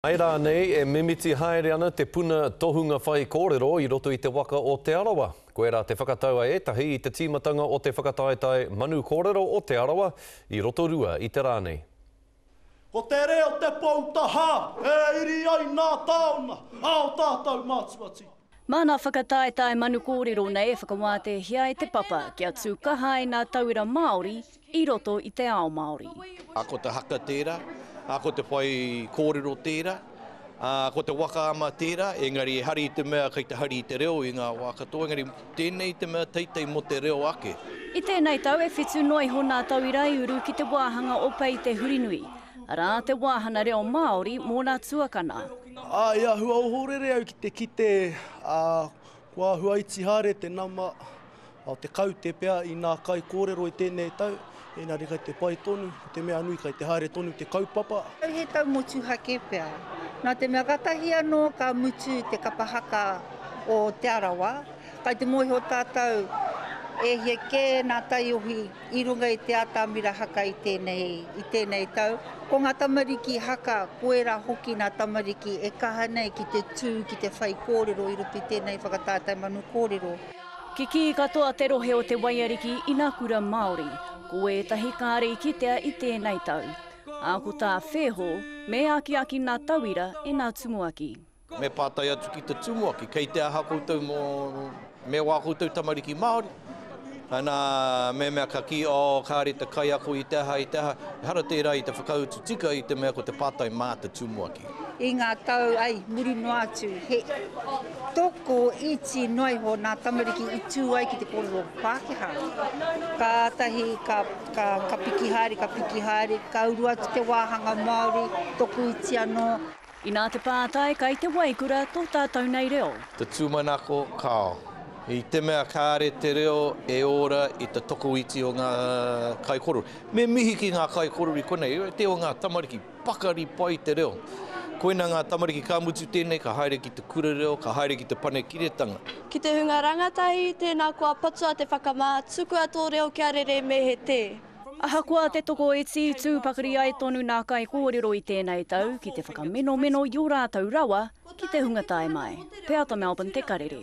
Āe rānei, e mimiti haere ana te puna tohunga whaikōrero i roto i te waka o Te Arawa? Koirā te whakatau a ētahi i te tīmatanga o te whakataetae Manu Kōrero o Te Arawa i Rotorua i te rā nei. Ko te reo te pou tahā e iri ai nā tāona, ā, o tātou mātua tika. Mā ngā whakataetae manu kōrero nei e whakawātehia e Te Papa kia tū kaha ai ngā tauira Māori i roto i te ao Māori. Ā, ko te haka tērā, ā, ko te whai kōrero tērā, ā, ko te waka ama tērā, engari e hari i te mea kei te hari i te reo i ngā wā katoa, engari tēnei te mea teitei mō te reo ake. I tēnei tau e whitu noa iho ngā tauira i uru ki te wāhanga o Pei Te Hurinui, arā, te wāhanga reo Māori mō ngā tuakana. I āhua ohorere au ki te kite ko āhua iti haere te nama, o te kaute pea i nā kai kōrero i tēnei tau, ēngari kai te pai tonu, ko te mea nui kai te haere tonu te kaupapa. Kai he tau motuhake pea, nā te mea katahi anō ka mutu te kapa haka o Te Arawa, kai te mōhio tātou e hia kē nā taiohi I runga i te atamira haka i tēnei, i tēnei tau. Ko ngā tamariki haka, ko ērā hoki nā tamariki e kaha nei ki te tū ki te whaikōrero i roto i tēnei whakatātai manu kōrero. Kikī katoa te rohe o Te Waiariki i nā kura Māori, ko ētahi kāre i kitea i tēnei tau. Ā, ko tā Wheho, me akiaki nā tauira e nā tumuaki. Me pātai atu ki te tumuaki, kei te aha koutou mō, me wā koutou tamariki Māori? Ana, me mea ka kī, oh, kāre te kaiako i te aha, i te aha. Ehara tērā i te whakautu tika i te mea ko te pātai mā te tumuaki. I ngā tau, ai, muri noa atu, he toko iti noa iho nā tamariki i tū ai ki te kōrero Pākehā. Kātahi ka, ka, ka piki haere, ka piki haere, ka uru atu te wāhanga Māori, toko iti anō. Inā te pātai kai te waikura tō tātou nei reo. Te tūmanako, kāo. I te mea kāre te reo e ora i te tokoiti o ngā kaikorori. Me mihi ki ngā kaikorori konei, te o ngā tamariki, pakari pai te reo. Koina ngā tamariki ka mutu tēnei ka haere ki te kura reo, ka haere ki te panekiretanga. Ki te hunga rangatahi, tēnā koa patua te whakamā, tukua tō reo kia rere me he tē. Ahakoa te tokoiti, tū pakari ai tonu nā kaikōrero i tēnei tau ki te whakamenomeno i ō rātou rawa ki te hunga tae mai. Peata Melbourne te karere.